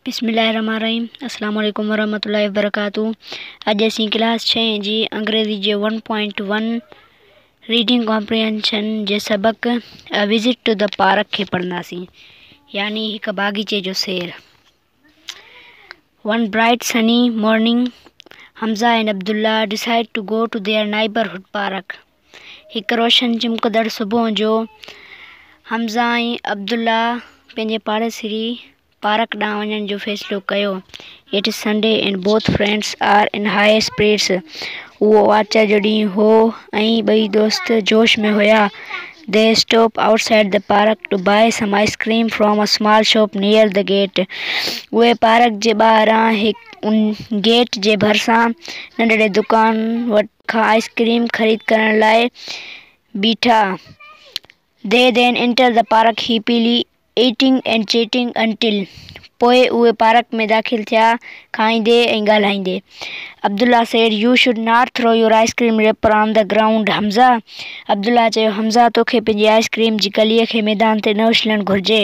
بسم الله الرحمٰن الرحيم السلام عليڪم ورحمة الله وبرڪاته اڄ اسين ڪلاس ڇهين جي انگريزي جي one point one reading comprehension جي سبق a visit to the park کي پڙهنداسين يعني هڪ باغيچي جو سير one bright sunny morning Hamza and Abdullah decided to go to their neighbourhood park هڪ روشن چمڪندڙ صبح جو حمزه ۽ عبدالله پنهنجي پاڙيسري پارڪ ڏانهن وڃڻ جو فيصلو ڪيو. It's Sunday and both friends are in high spirits اهو آچر جو ڏينهن هو ۽ ٻئي دوست جوش ۾ هيا. They stop outside the park to buy some ice cream from a small shop near the gate اهي پارڪ جي ٻاهران هڪ گيٽ جي ڀرسان ننڍڙي دڪان وٽ کان آئس ڪريم خريد ڪرڻ لاء بيٺا. They then enter the park happily eating and chatting until پوء اهي پارڪ ۾ داخل ٿيا کائيندي ۽ ڳالهائيندي. Abdullah said you should not throw your ice cream wrapper on the ground Hamza Abdullah چيو حمزه توکي پنهنجي آئس ڪريم جي ڪلي کي ميدان تي نه اڇلڻ گهرجي.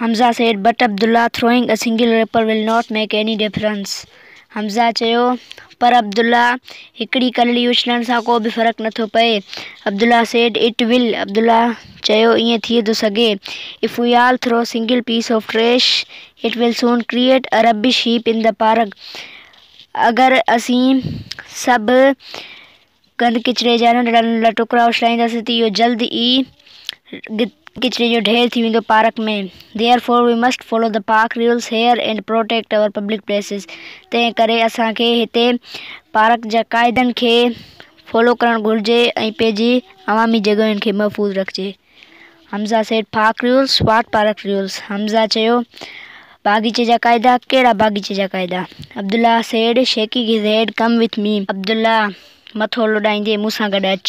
Hamza said but Abdullah throwing a single wrapper will not make any difference Hamza چيو پر عبدالله هڪڙي ڪلڙي اڇلڻ سان ڪو به فرق نٿو پئي Abdullah said it will Abdullah چيو ائين ٿي ٿو سگهي if we all throw single piece of trash it will soon create a rubbish heap in the park اگر اسين سڀ گند ڪچري جا ننڍڙا ننڍڙا ٽڪرا اڇلائينداسين ته اهو جلد ئي ڪچري جو ڍير ٿي ويندو park ۾. Therefore we must follow the park rules here and protect our public places تنهن ڪري اسان کي هتي پارڪ جا قاعدن کي فالو ڪرڻ گهرجي ۽ پنهنجي عوامي جڳهين کي محفوظ رکجي. Hamza said park rules what park rules Hamza چيو باغيچي جا قاعدا ڪهڙا باغيچي جا قاعدا Abdullah said shaking his head come with me Abdullah مٿو لڏائيندي مون سان گڏ اچ.